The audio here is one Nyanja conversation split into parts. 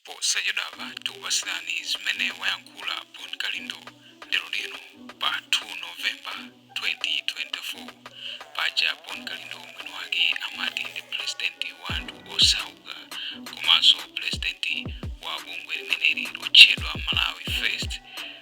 Posachedwapa tikupatsirani zimene wayankhula Bon Kalindo lero lino pa 2 November 2024. Paja Bon Kalindo mwini wake amati ndi pulezidenti wa anthu osauka komanso pulezidenti wa bungwe limeneli lotchedwa Malawi First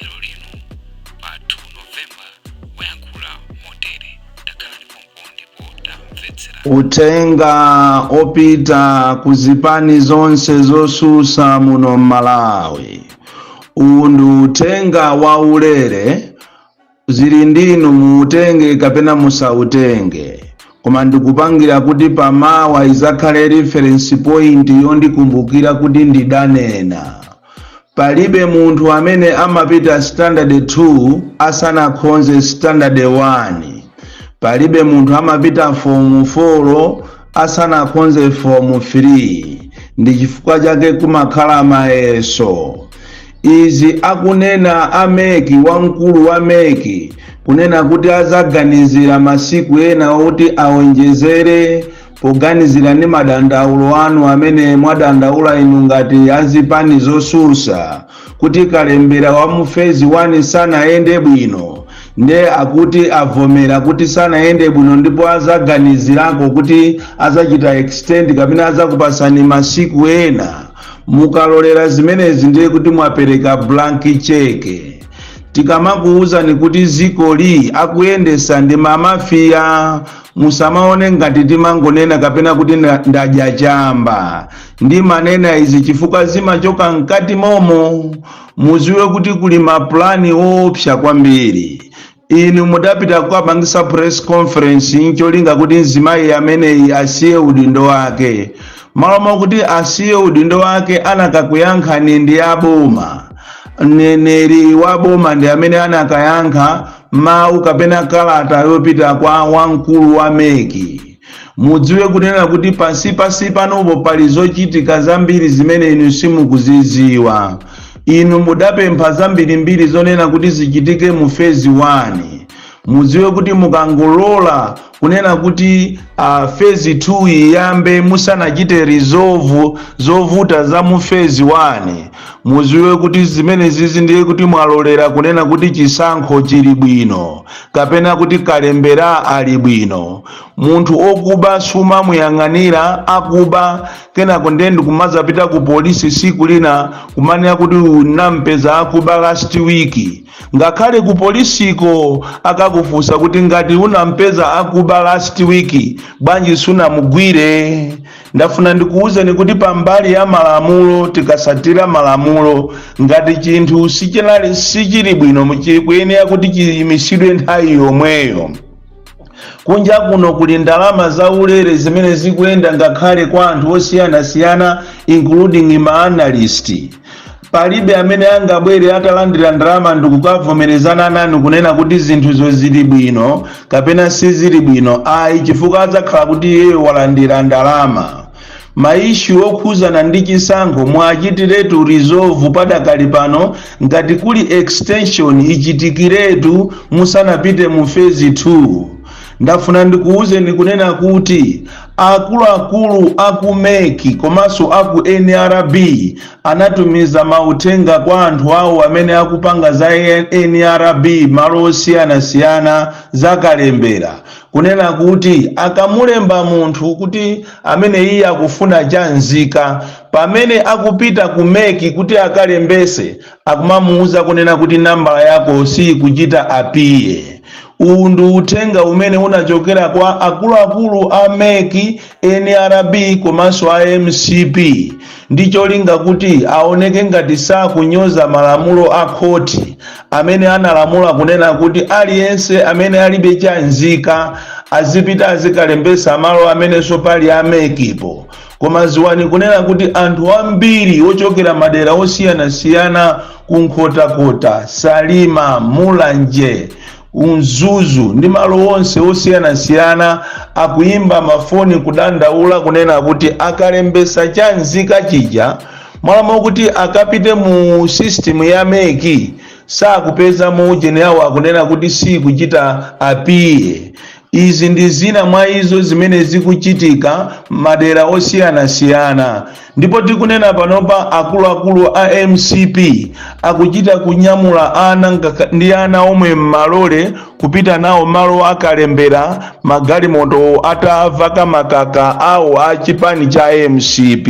lero lino pa 2 novemba wayankhula motere takhalani pompo ndipo tamvetsera Utenga opita ku zipani zonse zosusa muno m'Malawi. Uwu ndi utenga waulere zili ndinu muutenge kapena musautenge koma ndikupangira kuti pamawa izakhale reference point yondikumbukira kuti ndidanena palibe munthu amene amapita standard 2 asanakhonze standard 1 palibe munthu amapita form 4 asanakhonze fomu 3 ndi chifukwa chake kumakhala mayeso izi akunena a MEC wamkulu wa MEC kunena kuti azaganizira masiku ena oti awonjezere poganizira ndi madandaulo anu amene mwadandaula inu ngati azipani zosusa kuti kalembera wa mu phase 1 sanayende bwino nde akuti avomera kuti sanayende bwino ndipo azaganizirako kuti azachita extend kapena azakupasani masiku ena mukalolera zimenezi ndiye kuti mwapereka blank check tikamakuwuzani kuti zikoli akuyendesa ndi mamafiya musamaone ngati timangonena kapena kuti ndadya chamba ndimanena izi chifukwa zimachoka mkati momo muziwe kuti kuli mapulani oopsa kwambiri inu mudapita kukapangisa press conference ncholinga kuti mzimayi ameneyi asiye udindo wake malo mokuti asiye udindo wake anakakuyankhani ndi aboma mneneri wa boma ndi amene anakayankha mawu kapena kalata yopita kwa wamkulu wa MEC Mudziwe kunena kuti pansi pansi panopo pali zochitika zambiri zimene inu simukuzidziwa. Inu mudapempha zambirimbiri zonena kuti zichitike mu phase 1. Mudziwe kuti mukangolola kunena kuti uh, phase 2 iyambe musanachite resolve zovuta za mu phase 1 muziwe kuti zimenezizi ndiye kuti mwalolera kunena kuti chisankho chili bwino kapena kuti kalembera ali bwino munthu okuba sumamuyang'anira akuba kenako ndiye ndikumazapita ku polisi siku lina kumanena kuti unampeza akuba last week ngakhale ku polisiko akakufunsa kuti ngati unampeza akuba last week bwanji sunamugwire Ndafuna ndikuwuzeni kuti pambali ya malamulo tikasatira malamulo ngati chinthu sichinali sichili bwino nchikuyenera kuti chiyimisidwe nthawi yomweyo kunja kuno kuli ndalama za ulere zimene zikuyenda ngakhale kwa anthu osiyanasiyana including ma analyst palibe amene angabwere atalandira ndalama ndikukavomerezana nanu kunena kuti zinthuzo zili bwino kapena sizili bwino ayi chifukwa adzakhala kuti iyeyo walandira ndalama maishu okhuzana ndi chisankho muwachitiretu resolve padakali pano ngati kuli extension ichitikiretu musanapite mu phase 2 ndafuna ndikuwuzeni kunena kuti akuluakulu aku meki komanso aku nrb anatumiza mauthenga kwa anthu awo amene akupanga za nrb mmalo osiyanasiyana za kalembera kunena kuti akamulemba munthu kuti amene iye akufuna cha nzika pamene akupita ku meki kuti akalembese akumamuuza kunena kuti nambala yako siyikuchita apiye uwu ndi uthenga umene unachokera kwa akuluakulu a mec nrb komanso a mcp ndi cholinga kuti aoneke ngati sakunyoza malamulo a khoti amene analamula kunena kuti aliyense amene alibe chanzika azipita azikalembetsa malo amenenso pali amekipo koma ziwani kunena kuti anthu ambiri ochokera madera osiyanasiyana ku nkhotakota salima mulanje Mzuzu ndi malo onse osiyanasiyana akuyimba mafoni kudandaula kunena kuti akalembesa cha nzika chija mmalo moti akapite mu system ya meki sakupezamo ujeni awo akunena kuti sikuchita apiye Izi ndi zina mwa izo zimene zikuchitika madera osiyanasiyana ndipo tikunena panopa akuluakulu a mcp akuchita kunyamula ana ndi ana omwe m'malole kupita nawo malo a kalembera magalimoto atavaka makaka awo a chipani cha mcp.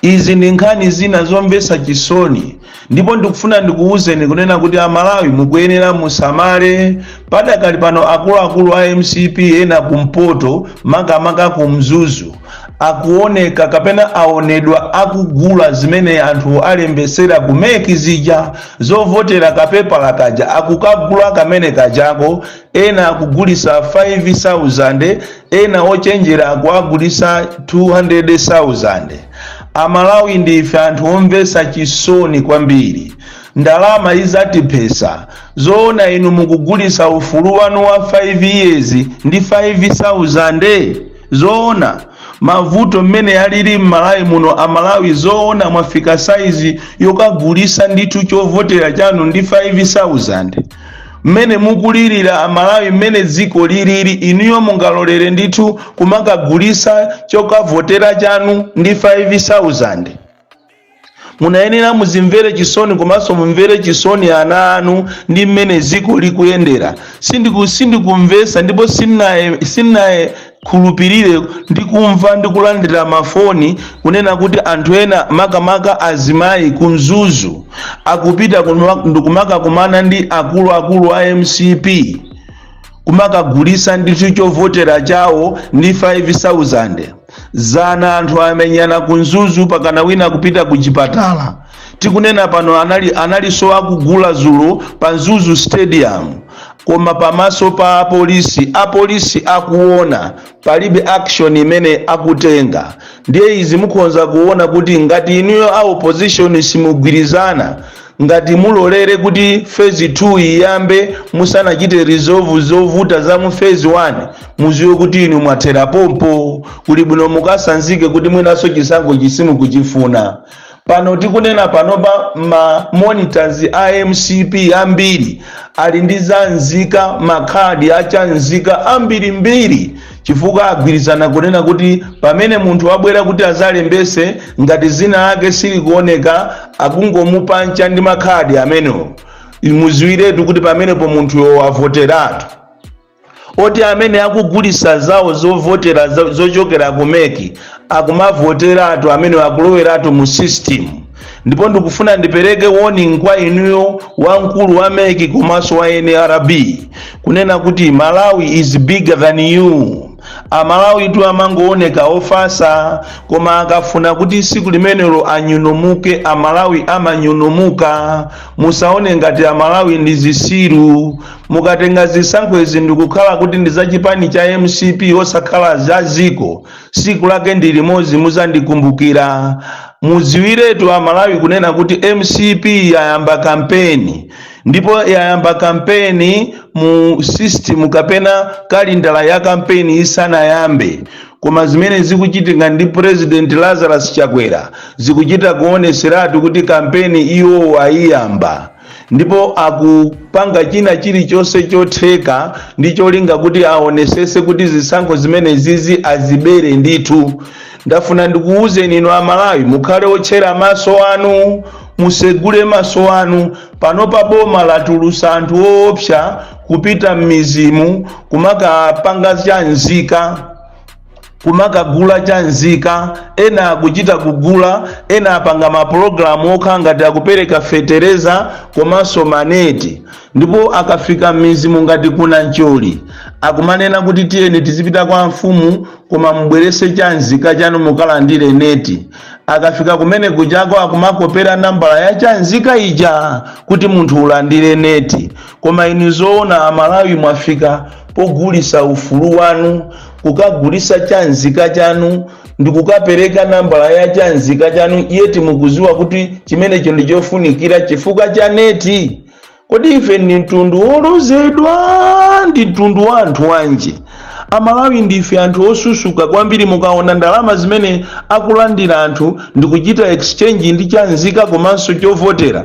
Izi ndi nkhani zina zomvetsa chisoni ndipo ndikufuna ndikuwuzeni kunena kuti Amalawi mukuyenera musamale. Padakali pano akuluakulu a mcp ena kumpoto makamaka ku Mzuzu akuoneka kapena aonedwa akugula zimene anthu alembetsera ku mec zija zovotera kapepala kaja akukagula kamene kajako ena akugulisa 5000 ena ochenjera akuagulisa 200000 amalawi ndife anthu omvesa chisoni kwambiri ndalama izatiphesa zoona inu mukugulisa ufulu wanu wa 5 years ndi 5000 zoona mavuto mmene alili mmalawi muno amalawi zoona mwafika saizi yokagulisa ndithu chovotera chanu ndi 5000 mmene mukulirira amalawi mmene dziko liliri inuyo mungalolere ndithu kumakagulisa chokavotera chanu ndi 5000 munayenera muzimvere chisoni komanso mumvere chisoni ana anu ndi mmene dziko likuyendera sindiku sindikumvesa ndipo sinaye sinaye khulupirire ndi kumva ndi kulandira mafoni kunena kuti anthu ena makamaka azimayi ku mzuzu akupita ndikumakakumana ndi akuluakulu a mcp kumakagulisa ndithu chovotera chawo ndi 5000 zana anthu amenyana ku mzuzu pakana wina kupita ku chipatala tikunena pano anali analinso akugula zulo pa mzuzu stadium koma pamaso pa apolisi apolisi akuona palibe action imene akutenga ndiye izi mukhonza kuona kuti ngati inuyo a opposition simugwirizana ngati mulolere kuti phase 2 iyambe musanachite resolve zovuta za mu phase 1 muziwe kuti inu mwathera pompo kuli bwino mukasanzike kuti mwinanso chisankho simukuchifuna pano tikunena panopa ma monitors a mcp ambiri ali ndi zamzika makhadi a chamzika ambirimbiri chifukwa agwirizana kunena kuti pamene munthu wabwera kuti azalembese ngati zina lake silikuoneka akungomupancha ndi makhadi amenewo muziwiretu kuti pamenepo munthuyo wavoteratu oti amene akugulisa zawo zovotera zo- zochokera ku mec akumavoteratu amene akuloweratu mu system ndipo ndikufuna ndipereke warning kwa inuyo wamkulu wa mec komanso wa nrb kunena kuti malawi is bigger than you amalawitu amangooneka ofasa koma akafuna kuti siku limenelo anyunomuke amalawi amanyunomuka musaone ngati amalawi ndi zisiru mukatenga zisankho izi ndikukhala kuti ndi za chipani cha mcp osakhala za ziko siku lake ndi limodzi muzandikumbukira muziwiretu amalawi kunena kuti mcp yayamba kampeni ndipo yayamba kampeni mu system kapena kalindala ya kampeni isanayambe koma zimene zikuchitika ndi president lazarus chakwera zikuchita kuoneseratu kuti kampeni iwo ayiyamba ndipo akupanga china chilichonse chotheka ndi cholinga kuti aonesese kuti zisankho zimenezi azibere ndithu ndafuna ndikuwuzeni inu amalawi mukhale otchera maso anu musegule maso anu panopa boma latulusa anthu oopsa kupita m'mizimu kumakapanga chanzika kumakagula chanzika ena akuchita kugula ena apanga mapulogalamu okhala ngati akupereka fetereza komanso maneti ndipo akafika m'mizimu ngati ku Namcholi akumanena kuti tiyeni tizipita kwa amfumu koma mubwerese chanzika chanu mukalandire neti akafika kumene kujako akumakopera nambala ya chanzika ija kuti munthu ulandire neti koma inu zoona amalawi mwafika pogulisa ufulu wanu kukagulisa chanzika chanu ndikukapereka nambala ya chanzika chanu yet mukuziwa kuti chimenecho ndi chofunikira chifukwa cha neti kodi ife ndi mtundu wolozedwa ndi mtundu wa anthu wanji amalawi ndife anthu osusuka kwambiri mukaona ndalama zimene akulandira anthu ndikuchita exchange ndi chanzika komanso chovotera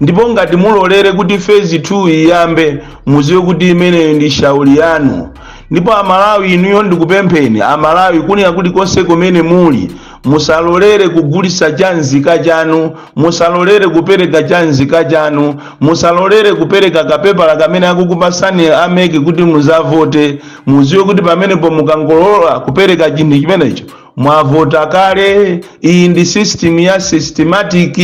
ndipo ngati mulolere kuti phase 2 iyambe muziwe kuti imeneyo ndi shauri yanu ndipo amalawi inuyo ndikupempheni amalawi kunena kuti konse kumene muli musalolere kugulisa chanzika chanu musalolere kupereka chanzika chanu musalolere kupereka kapepala kamene akukupasani a MEC kuti muzavote muziwe kuti pamenepo mukangolola kupereka chinthu chimenecho mwavota kale iyi ndi system ya smartmatic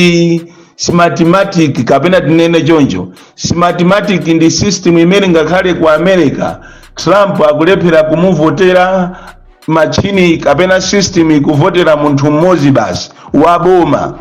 smartmatic kapena tinene choncho smartmatic ndi system imene ngakhale ku america trump akulephera kumuvotera machini kapena system ikuvotera munthu mmodzi basi wa boma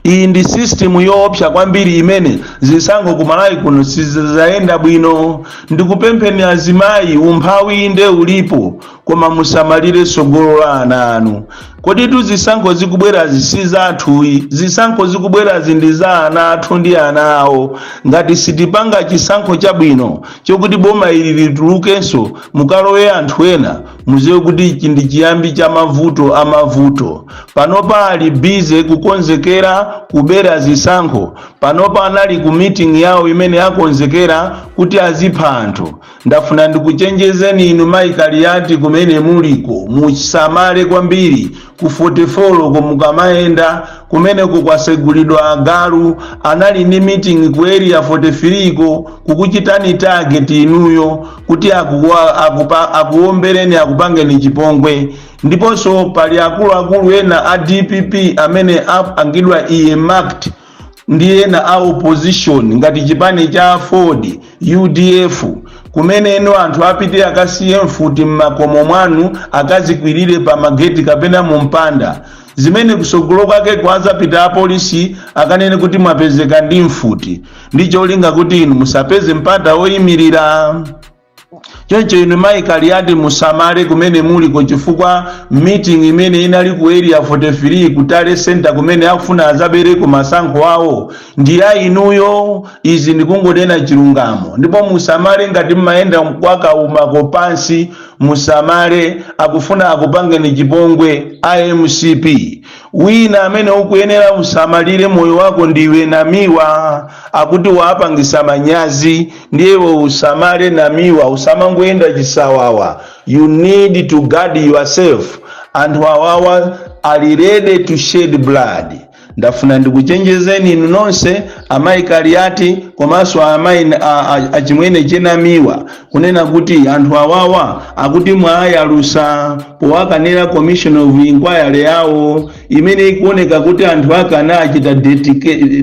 iyi ndi system yoopsa kwambiri imene zisankho ku malawi kuno sizayenda bwino ndikupempheni azimayi umphawi inde ulipo koma musamalire tsogolo la ana anu kodi tu zisankho zikubwerazi si zathuyi zisankho zikubwerazi ndi za ana athu ndi ana awo ngati sitipanga chisankho chabwino chokuti boma ilili litulukenso mukalowe anthu ena muziwe kuti ichi ndi chiyambi cha mavuto a mavuto panopa ali busy kukonzekera kubera zisankho panopa anali ku meeting yawo imene akonzekera kuti azipha anthu Ndafuna ndikuchenjezeni inu mayi Kaliati kumene muliko musamale kwambiri ku 44 ko mukamayenda kumeneko kwasegulidwa agalu anali ndi meeting ku area 43 ko kukuchitani target inuyo kuti akuombereni akupangeni chipongwe ndiponso pali akuluakulu ena a dpp amene apangidwa earmarked ndi ena a opposition ngati chipani cha Aford udf kumene inu anthu apite akasiye mfuti m'makomo mwanu akazikwirire pa mageti kapena mu mpanda zimene kusogolo kwake kuzapita apolisi akanene kuti mwapezeka ndi mfuti ndi cholinga kuti inu musapeze mpata oyimirira choncho inu mayi kaliyati musamale kumene muliko chifukwa meeting imene inali ku area 43 ku tale center kumene akufuna azabereko masankho awo ndi ya inuyo izi ndikungonena chilungamo ndipo musamale ngati mmayenda mukaumako pansi musamale akufuna akupangeni chipongwe a mcp Wina amene ukuyenera usamalire moyo wako ndiwe Namiwa akuti waapangisa manyazi ndiye iwe usamale Namiwa usamangoyenda chisawawa you need to guard yourself anthu awawa ali ready to shed blood ndafuna ndikuchenjezeni inu nonse amayi Kaliati komanso amayi a- a- achimwene chenamiwa kunena kuti anthu awawa akuti mwawayalusa powakanira commission of inquiry yawo imene ikuoneka kuti anthu akanachita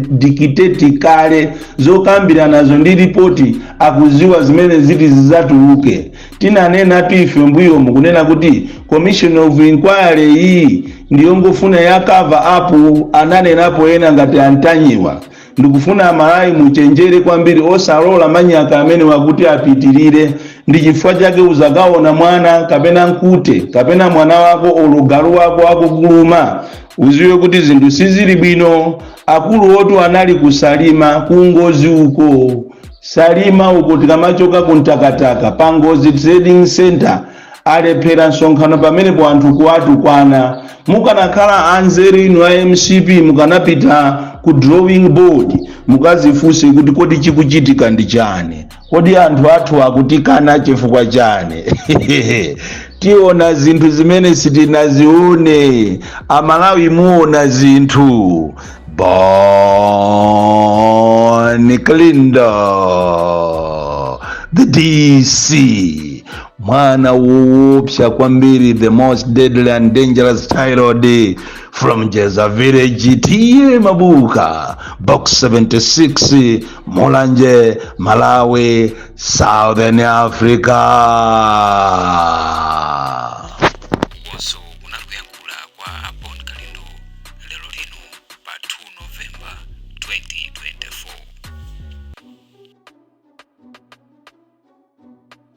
dictate kale zokambiranazo ndi ripoti akuziwa zimene ziti zizatuluke tinanenatu ife mbuyomu kunena kuti commission of inquiry iyi ndiyongofuna ya cover up ananenapo ena ngati antanyiwa Ndikufuna amalawi muchenjere kwambiri osalola manyaka amenewa kuti apitilire ndi chifukwa chake uzakaona mwana kapena nkute kapena mwana wako olo galu wako akukuluma uziwe kuti zinthu sizili bwino akulu wotu anali kusalima kungozi uko salima uko tikamachoka kuntakataka pangozi trading center alephera msonkhano pamenepo anthu kuwatukwana mukanakhala anzeru inu a mcp mukanapita ku drawing board mukazifunse kuti kodi chikuchitika ndi chani kodi anthu athu akutikana chifukwa chani tiona zinthu zimene sitinazione amalawi muona zinthu Bon Kalindo the dc mwana woopsa kwambiri the most deadly and dangerous child from jeza village TA Mabuka box 76 mulanje malawi southern africa ndipo uko kunali kuyankhula kwa abon kalindo lero lino pa 2 novemba 2024